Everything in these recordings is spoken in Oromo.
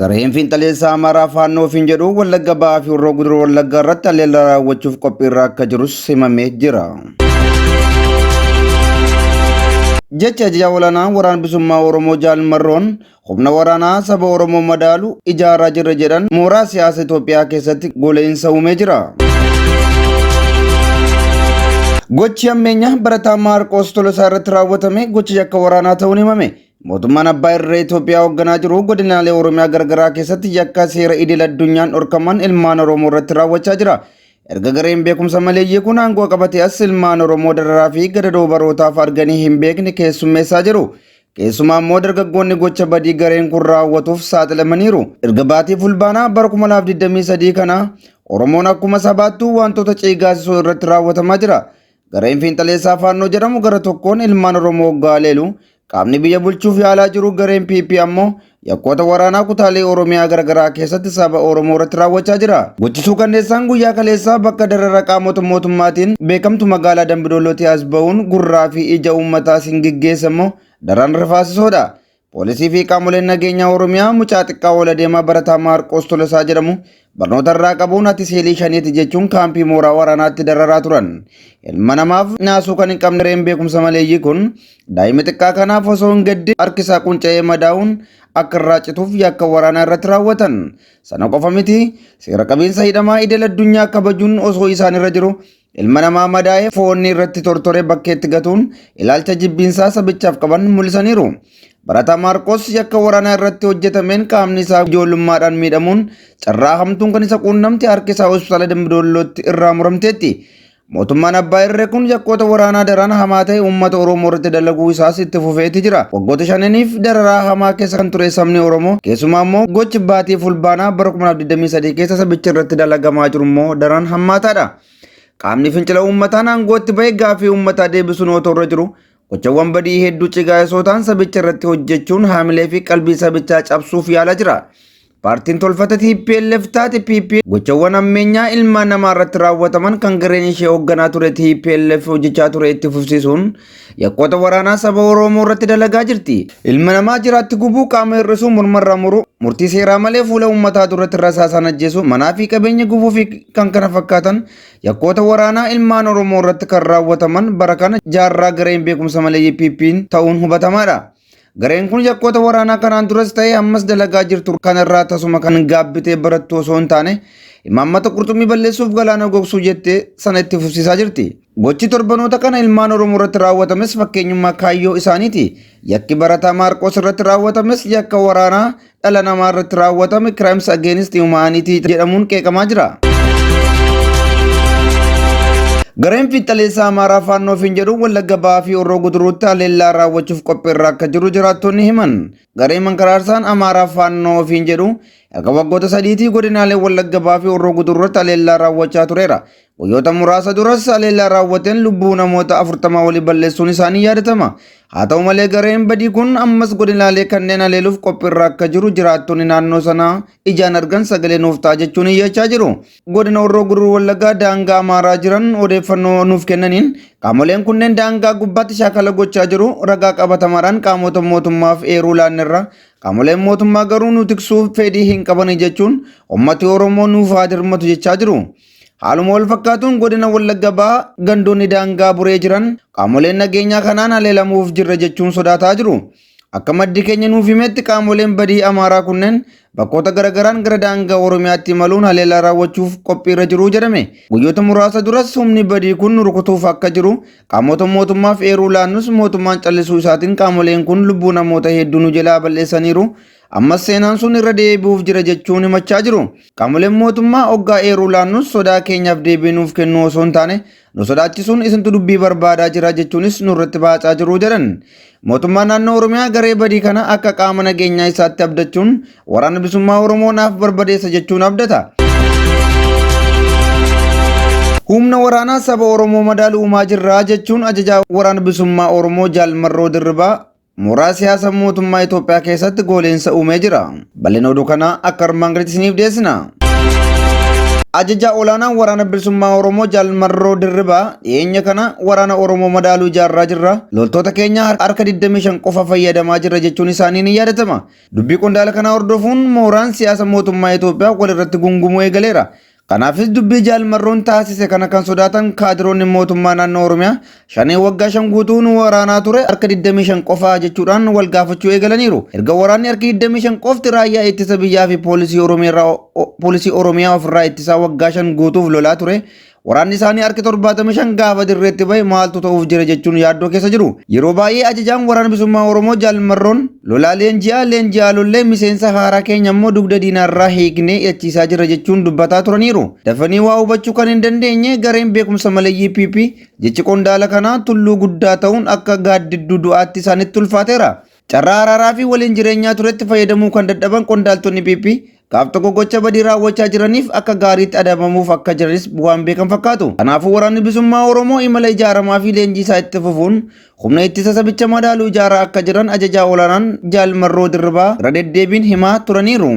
Gareen fiinxaleessaa Amaaraa Faannoo ofiin jedhu Wallagga Bahaa fi Horroo Guduruu Wallaggaa irratti haleellaa raawwachuuf qophiirra akka jirus himamee jira. Jecha ajajaa olaanaa waraana bilisummaa Oromoo Jaal Marroon humna waraanaa saba Oromoo madaalu ijaaraa jirra jedhan mooraa siyaasa Itoophiyaa keessatti gole'insa uumee jira. Gochi hammeenyaa barataa Maarqoos Tolosaa irratti raawwatame gocha yakka waraanaa ta'uun himame. Mootummaan abbaa irree Itoophiyaa hoogganaa jiru godinaalee Oromiyaa garagaraa keessatti yakka seera idil addunyaan dhorkaman ilmaan Oromoo irratti raawwachaa jira. Erga gareen beekumsa maleeyyii kun aangoo qabatee as ilmaan Oromoo dararaa fi gadadoo barootaaf arganii hin beekne keessummeessaa jiru. Keessumaa immoo dargaggoonni gocha badii gareen kun raawwatuuf saaxilamaniiru. Erga baatii Fulbaanaa bara 2023 kana Oromoon akkuma sabaattuu wantoota ciigaasisoo irratti raawwatamaa jira. Gareen fiinxaleessaa Faannoo jedhamu gara tokkoon ilmaan Oromoo hoggaa haleelu, qaamni biyya bulchuuf yaalaa jiru gareen PP ammoo Yakkoota waraanaa kutaalee Oromiyaa garagaraa keessatti saba Oromoo irratti raawwachaa jira. Gochi suukanneessaan guyyaa kaleessaa bakka darara qaamota mootummaatiin beekamtu magaalaa Dambidollootii as ba'uun gurraa fi ija uummataa siin geggeessa immoo daran rifaasisoodha. Poolisii fi qaamoleen nageenyaa Oromiyaa mucaa xiqqaa ol adeemaa barataa Maarqoos Tolosaa jedhamu Barnoota irraa qabuun ati seelii shaneeti jechuun kaampii mooraa waraanaatti dararaa turan. Ilma namaaf naasuu kan hin qabne reen beekumsa maleeyyii kun daa'ima xiqqaa kanaaf osoo hin gadde harki isaa qunca'ee madaa'uun akka irraa cituuf yakka waraanaa irratti raawwatan. Sana qofa miti seera qabiinsa hidhamaa idil addunyaa kabajuun osoo isaan irra jiru Ilma namaa madaa'ee foonni irratti tortoree bakkeetti gatuun ilaalcha jibbiinsaa sabichaaf qaban mul'isaniiru. Barataa Maarqos yakka waraanaa irratti hojjetameen qaamni isaa ijoollummaadhaan miidhamuun carraa hamtuun kan isa quunnamte harki isaa hospitaala Dambidoollootti irraa muramteetti. Mootummaan abbaa irree kun yakkoota waraanaa daraan hamaa ta'e uummata Oromoo irratti dalaguu isaas itti fufeeti jira. Waggoota shananiif dararaa hamaa keessa kan ture sabni Oromoo keessumaa immoo gochi baatii fulbaanaa bara 2023 keessa sabicha irratti dalagamaa jiru immoo daraan hammaataadha. Qaamni fincila uummataan aangootti ba'e gaaffii uummataa deebisuun otoo irra jiru gochawwan badii hedduu cigaa'esootaan sabicha irratti hojjechuun haamilee fi qalbii sabichaa cabsuuf yaalaa jira. Paartiin tolfata TPLF taate PP gochawwan ammeenyaa ilmaan namaa irratti raawwataman kan gareen ishee hoogganaa ture TPLF hojjechaa ture itti fufsiisuun Yakkoota waraanaa saba Oromoo irratti dalagaa jirti. Ilma namaa jiraatti gubuu, qaama hir'isuu, morma irraa muruu, murtii seeraa malee fuula uummataa duratti rasaasaan ajjeesuu, manaa fi qabeenya gubuu fi kan kana fakkaatan yakkoota waraanaa ilmaan Oromoo irratti kan raawwataman bara kana jaarraa gareen beekumsa maleeyyii PPn ta'uun hubatamaadha. Gareen kun yakkoota waraanaa kanaan duras ta'ee ammas dalagaa jirtu kanarraa tasuma kan gaabbitee barattu osoo hin taane imaammata qurxummii balleessuuf galaana gogsuu jettee sana itti fufsiisaa jirti. Gochi torbanoota kana ilmaan Oromoo irratti raawwatames fakkeenyummaa kaayyoo isaaniiti. Yakki barataa Maarqoos irratti raawwatames yakka waraanaa dhala namaa irratti raawwatame Crimes Against Humanity jedhamuun qeeqamaa jira. Gareen fiixxaleessaa Amaaraa Faannoo ofiin jedhu Wallagga Bahaa fi Horroo Guduruutti haleellaa raawwachuuf qophiirra akka jiru jiraattonni himan. Gareen mankaraarsaan Amaaraa Faannoo ofiin jedhu erga waggoota sadiitii godinaalee Wallagga Bahaa fi Horroo Guduruutti haleellaa raawwachaa tureera. Guyyoota muraasa duras haleellaa raawwateen lubbuu namoota 40 olii balleessuun isaanii yaadatama. Haa ta'u malee gareen badii kun ammas godinaalee kanneen haleeluuf qophiirra akka jiru jiraattonni naannoo sanaa ijaan argan sagalee nuuf ta'a jechuun iyyachaa jiru. Godina Horroo Guduruu Wallaggaa daangaa Amaaraa jiran odeeffannoo nuuf kennaniin qaamoleen kunneen daangaa gubbaatti shaakala gochaa jiru ragaa qabatamaadhaan qaamota mootummaaf eeruu laannerra qaamoleen mootummaa garuu nu tiksuuf fedhii hin qabani jechuun ummati Oromoo nuuf haa dirmatu jechaa jiru. Haaluma wal fakkaatuun godina Wallagga Bahaa gandoonni daangaa buree jiran qaamoleen nageenyaa kanaan haleelamuuf jirra jechuun sodaataa jiru. Akka maddi keenya nuuf himetti qaamoleen badii Amaaraa kunneen bakkoota garagaraan gara daangaa Oromiyaatti imaluun haleelaa raawwachuuf qophiirra jiru jedhame. Guyyoota muraasa duras humni badii kun rukutuuf akka jiru qaamota mootummaaf eeruu laannus mootummaan callisuu isaatiin qaamoleen kun lubbuu namoota hedduu nu jalaa bal'eessaniiru Ammas seenaan sun irra deebi'uuf jira jechuun himachaa jiru. Qaamoleen mootummaa oggaa eeruu laannus sodaa keenyaaf deebii nuuf kennuu osoo hin taane nu sodaachisuun isintu dubbii barbaadaa jira jechuunis nurratti baacaa jiru jedhan. Mootummaan naannoo Oromiyaa garee badii kana akka qaama nageenyaa isaatti abdachuun waraana bilisummaa Oromoo naaf barbadeessa jechuun abdata. Humna waraanaa saba Oromoo madaalu uumaa jirraa jechuun ajajaa waraana bilisummaa Oromoo Jaal Marroo Dirribaa Mooraa siyaasa mootummaa Itoophiyaa keessatti gooliinsa uumee jira. Bal'ina oduu kanaa akka armaan gaditti isiniif dhiyeessina. Ajajaa olaanaan waraana bilisummaa Oromoo Jaal Marroo Dirribaa dhiyeenya kana waraana Oromoo madaaluu ijaarraa jirra. Loltoota keenya harka 25 qofa fayyadamaa jirra jechuun isaanii ni yaadatama. Dubbii qondaala kanaa hordofuun mooraan siyaasa mootummaa Itoophiyaa walirratti gungumuu eegaleera. Kanaafis dubbii Jaal Marroon taasise kana kan sodaatan kaadiroonni mootummaa naannoo Oromiyaa shanee waggaa shan guutuu nu waraanaa ture harka 25 qofaa jechuudhaan wal gaafachuu eegalaniiru. Erga waraanni harki 25 qofti raayyaa ittisa biyyaa fi poolisii Oromiyaa poolisii Oromiyaa ofirraa ittisaa waggaa shan guutuuf lolaa ture. Waraanni isaanii harki 75 gaafa dirreetti bahe maaltu ta'uuf jira jechuun yaaddoo keessa jiru. Yeroo baay'ee ajajaan waraana bilisummaa Oromoo Jaal Marroon Lolaa leenji'aa leenji'aa lollee miseensa haaraa keenya immoo dugda diinaarraa hiiknee hidhachiisaa jirra jechuun dubbataa turaniiru. Dafanii waa hubachuu kan hin dandeenye gareen beekumsa maleeyyii PP jechi qondaala kanaa tulluu guddaa ta'uun akka gaaddidduu du'aatti isaanitti ulfaateera. Carraa araaraa fi waliin jireenyaa turetti fayyadamuu kan dadhaban qondaaltonni PP Gaaf tokko gocha badii raawwachaa jiraniif akka gaariitti adabamuuf akka jiranis waan beekan fakkaatu. Kanaafuu waraanni bilisummaa Oromoo imala ijaaramaa fi leenjii isaa itti fufuun humna ittisa sabicha madaalu ijaaraa akka jiran ajajaa olaanaan Jaal Marroo Dirribaa irra deddeebiin himaa turaniiru.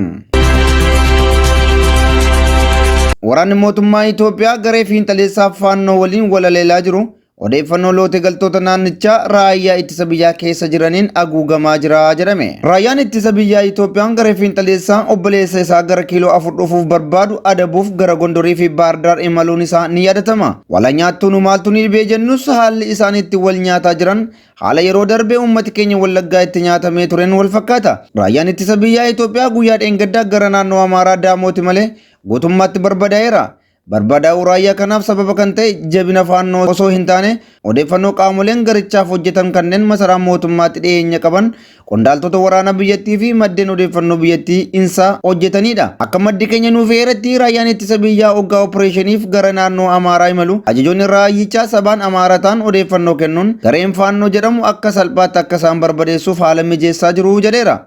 Waraanni mootummaa Itoophiyaa garee fiinxaleessaa faannoo waliin walaleelaa jiru Odeeffannoo loote galtoota naannichaa raayyaa ittisa biyyaa keessa jiraniin haguugamaa jira jedhame. Raayyaan ittisa biyyaa Itoophiyaan garee fiinxaleessaa obboleessa isaa gara kiiloo afur dhufuuf barbaadu adabuuf gara Gondorii fi Baardaar imaluun isaa ni yaadatama. Wala nyaattuu nu maaltu ni dhibee jennus haalli isaan itti wal nyaataa jiran haala yeroo darbe uummati keenya Wallaggaa itti nyaatamee tureen wal fakkaata. Raayyaan ittisa biyyaa Itoophiyaa guyyaa dheengaddaa gara naannoo Amaaraa Daamooti malee guutummaatti barbadaa'eera. Barbadaa'uu raayyaa kanaaf sababa kan ta'e jabina faannoo osoo hin taane odeeffannoo qaamoleen garichaaf hojjetan kanneen masaraa mootummaatti dhiyeenya qaban qondaaltota waraanaa biyyattii fi maddeen odeeffannoo biyyattii insaa hojjetanidha. Akka maddi keenya nuuf eeretti raayyaan ittisa biyyaa oggaa opereeshiniif gara naannoo Amaaraa imalu ajajoonni raayyichaa sabaan Amaara ta'an odeeffannoo kennuun gareen faannoo jedhamu akka salphaatti akka isaan barbadeessuuf haala mijeessaa jiru jedheera.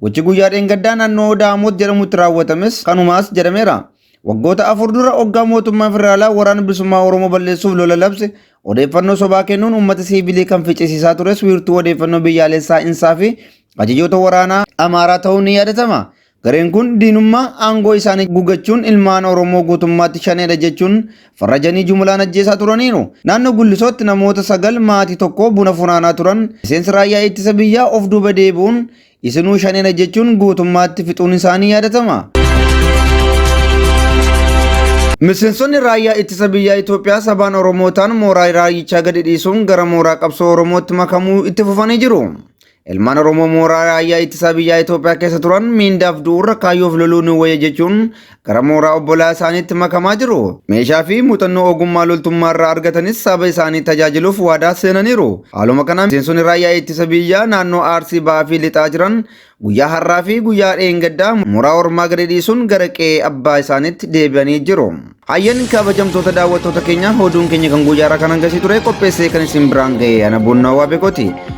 Gochi guyyaa dheengaddaa naannoo Daamoot jedhamutti raawwatames kanumaas jedhameera. Waggoota afur dura oggaa mootummaan federaalaa waraana bilisummaa Oromoo balleessuuf lola labse odeeffannoo sobaa kennuun uummata siivilii kan ficcisiisaa tures wiirtuu odeeffannoo biyyaalessaa insaa fi ajajoota waraanaa Amaaraa ta'uun ni yaadatama. Gareen kun diinummaa aangoo isaanii gugachuun ilmaan Oromoo guutummaatti shaneedha jechuun farrajanii jumulaan ajjeesaa turaniiru. Naannoo Gullisootti namoota sagal maatii tokko buna funaanaa turan miseensi raayyaa ittisa biyyaa of duuba deebi'uun Isinuu shanedha jechuun guutummaatti fixuun isaa ni yaadatama. Miseensonni raayyaa ittisa biyyaa Itoophiyaa sabaan Oromoo ta'an mooraa raayyichaa gadi dhiisuun gara mooraa qabsoo Oromootti makamuu itti fufanii jiru. Ilmaan Oromoo mooraa raayyaa ittisaa biyyaa Itoophiyaa keessa turan miindaaf du'uurra kaayyoof loluun wayya jechuun gara mooraa obbolaa isaaniitti makamaa jiru. Meeshaa fi muuxannoo ogummaa loltummaa irraa argatanis saba isaanii tajaajiluuf waadaa seenaniiru. Haaluma kanaan miseensonni raayyaa ittisa biyyaa naannoo Arsii Bahaa fi Lixaa jiran guyyaa har'aa fi guyyaa dheengaddaa mooraa ormaa gadi dhiisuun gara qe'ee abbaa isaaniitti deebi'anii jiru. Hayyan kabajamtoota daawwattoota keenya oduun keenya kan guyyaa irraa kan hangasii ture qopheessee kan isin biraan ga'e ana buunnaa waa beekoti.